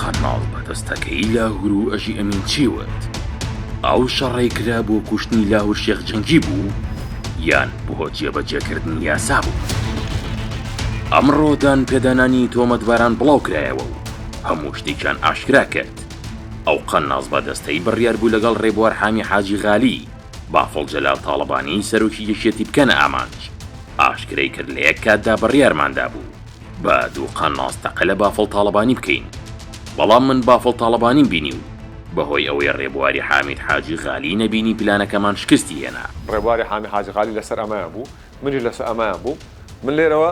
قەرناڵ بەدەستەکەی لاهور و ئەژی ئەمین چی وت؟ ئەو شەڕەی کرا بۆ کوشتنی لاهور شێخ جەنگی بوو یان بۆ جێبەجێکردنی یاسا بوو؟ ئەمڕۆ دانپێدانانی تۆمەتباران بڵاوکرایەوە و هەموو شتێکیان ئاشکرا کرد. ئەو قەناس بەدەستەی بڕیار بوو لەگەڵ ڕێبوار حامی حاجی غالی، بافڵ جەلال تاڵەبانی سەرۆکی یەکێتی بکەنە ئامانج، ئاشکرای کرد لە یەک کاتدا بڕیارمان دابوو، با دوو قەناس تەقە لە بافڵ تاڵەبانی بکەین بەڵام من بافڵ تاڵەبانیم بینی و بەهۆی ئەوەی ڕێبواری حامید حاجی غالیی نەبینی پلانەکەمان شکستی هێنا. ڕێبواری حامید حاجی غالی لەسەر ئەمەیان بوو، منیش لەسەر ئەمەیان بووم. من لێرەوە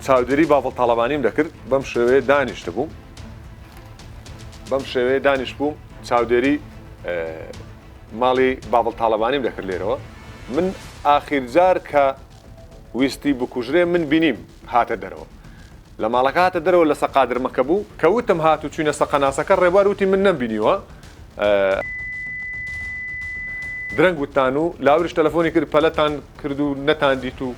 چاودێریی بافڵ تاڵەبانیم دەکرد، بەم شێوەیە دانیشتبووم، بەم شێوەیە دانیشتبووم، چاودێریی ماڵی بافڵ تاڵەبانیم دەکرد لێرەوە. من ئاخیر جار کە. ویستی بکوژرێ من بینیم هاتە دەرەوە لە ماڵەکە هاتە دەرەوە لەسە قادرمەکە بوو کە وتم هات و چوینە سە قەناسەکە ڕێبوار وتی من نەم بینیوە درەنگ وتتان و لاوریش تەلەفۆنی کرد پەلەتان کرد و نەتان دیت و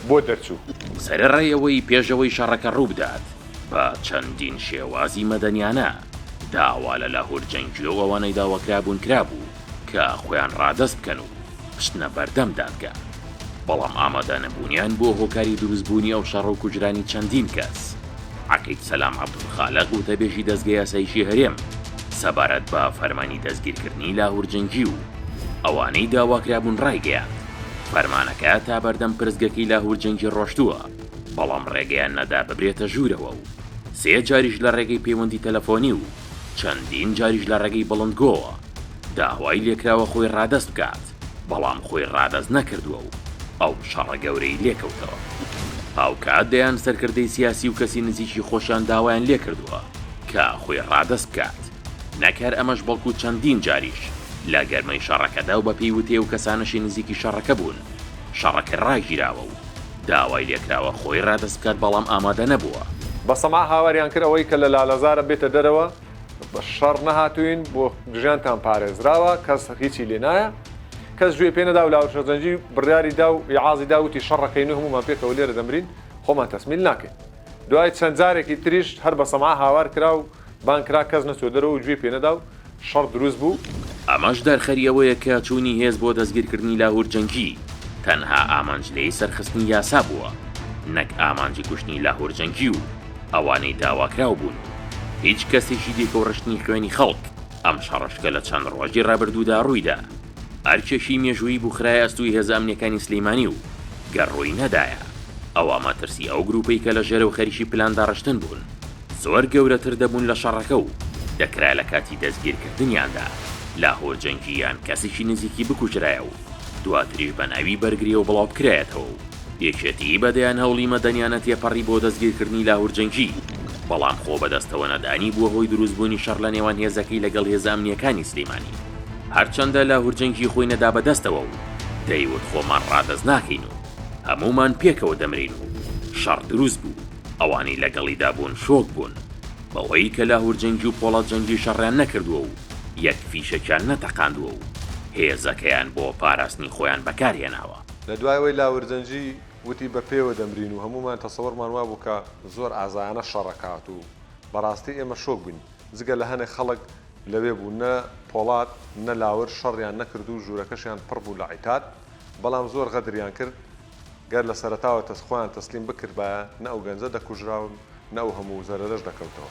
بۆ دەرچوو. سەرە ڕێ ەوەی پێشەوەی شەڕەکە ڕووبدات بە چەندین شێوازی مەدەنیانە داوا لە لاهور جەنگیو ئەوانەی داواکرابوون کرابوو، کە خۆیان ڕادەست بکەن و بچنە بەردەم دادگا، بەڵام ئامادەنەبوونیان بۆ هۆکاری دروستبوونی ئەو شەڕە و کوژرانی چەندین کەس. عەقید سەلام عەبدولخالق وتەبێژی دەزگە یاساییی هەرێم سەبارەت بە فەرمانی دەستگیرکردنی لاهور جەنگی و ئەوانەی داواکرابوون ڕایگەیاند، فەرمانەکە تا بەردەم پرسگەکەی لاهور جەنگی ڕۆشتووە، بەڵام ڕێگەیان نەدا ببرێتە ژوورەوە و سێ جاریش لە ڕێگەی پەیوەندی تەلەفۆنی و چەندین جاریش لە ڕێگەی بڵندگۆوە، داوای لێکراوە خۆی ڕادەست بکات، بەڵام خۆی ڕادەست نەکردووە و ئەو شەڕە گەورەی لێکەوتەوە. هاوکات دەیان سەرکردەی سیاسی و کەسی نزیکی خۆشیان داوایان لێکردووە کە خۆی ڕادەست بکات، نەک هەر ئەمەش بەڵکو چەندین جاریش لە گەرمەی شەڕەکەدا و بەپێی وتەی ئەو کەسانەشی نزیکی شەڕەکە بوون شەڕەکە ڕاگیراوە و داوای لێکراوە خۆی ڕادەست بکات بەڵام ئامادە نەبووە. بە سەما هاواریان کرد ئەوەی کە لە لالەزارە بێتە دەرەوە، بە شەڕ نەهاتووین بۆ ژیانتان پارێزراوە کەس هیچی لێ نایە کەس گوێ پێ نەدا و لاوشەزەنجی بڕیاری دا و یعازی داوتی شەڕەکەین و هەمومان پێکەوە لێرە دەمرین خۆمان تەسمیل ناکەین دوای چەند جارێکی تریش هەر بە سەما هاوار کرا و بانکرا کەس نەچوە دەرەوە و گوێ پێ نەدا و شەڕ دروست بوو ئەمەش دەرخەری ئەوەیە کە چوونی هێز بۆ دەستگیرکردنی لاهور جەنگی تەنها ئامانج لێی سەرخستنی یاسا بووە نەک ئامانجی کوشتنی لاهور جەنگی و ئەوانەی داواکراو بوون و هیچ کەسێکی دیکە و ڕشتنی خوێنی خەڵک ئەم شەڕەش کە لە چەند ڕۆژی ڕابردوودا ڕوویدا ئەرکێکی مێژوویی بوو خرایە ئەستووی هێزە ئەمنیەکانی سلیمانی و گەر ڕووی نەدایە ئەوا مەترسی ئەو گروپەی کە لە ژێرەو خەریکی پلان داڕشتن بوون زۆر گەورەتر دەبوون لە شەڕەکە و دەکرا لە کاتی دەستگیرکردنیاندا لاهور جەنگی یان کەسێکی نزیکی بکوژرایە و دواتریش بە ناوی بەرگریەوە بڵاوبکرایەتەوە و یەکێتیی بە دەیان هەوڵی مەدەنیانە تێپەڕی بۆ دەستگیرکردنی لاهور جەنگی، بەڵام خۆ بەدەستەوە نەدانی بووە هۆی دروستبوونی شەڕ لە نێوان هێزەکەی لەگەڵ هێزە ئەمنییەکانی سلیمانی، هەرچەندە لاهور جەنگی خۆی نەدا بە دەستەوە و دەیوت خۆمان ڕادەست ناکەین و هەموومان پێکەوە دەمرین و شەڕ دروست بوو، ئەوانەی لەگەڵیدا بوون شۆک بوون بەوەی کە لاهور جەنگی و پۆڵاد جەنگی شەڕیان نەکردووە و یەک فیشەکیان نەتەقاندووە و هێزەکەیان بۆ پاراستنی خۆیان بەکارهێناوە. لە دوای ئەوەی لاورجەنجی وتی بە پێوە دەمرین و هەموومان تەسەورمان وابوو کە زۆر ئازایانە شەڕەکە هاتوو، بەڕاستی ئێمە شۆک بووین، جگە لە هەنێک خەڵک لەوێ بوو، نە پۆڵاد نە لاور شەڕیان نەکرد و ژوورەکەشیان پڕ بوو لە عیتاد، بەڵام زۆر غەدریان کرد، گەر لە سەرەتاوە خۆیان تەسلیم بکردبایە نە ئەو گەنجە دەکوژرا و نە ئەو هەموو زەرەرەش دەکەوتەوە.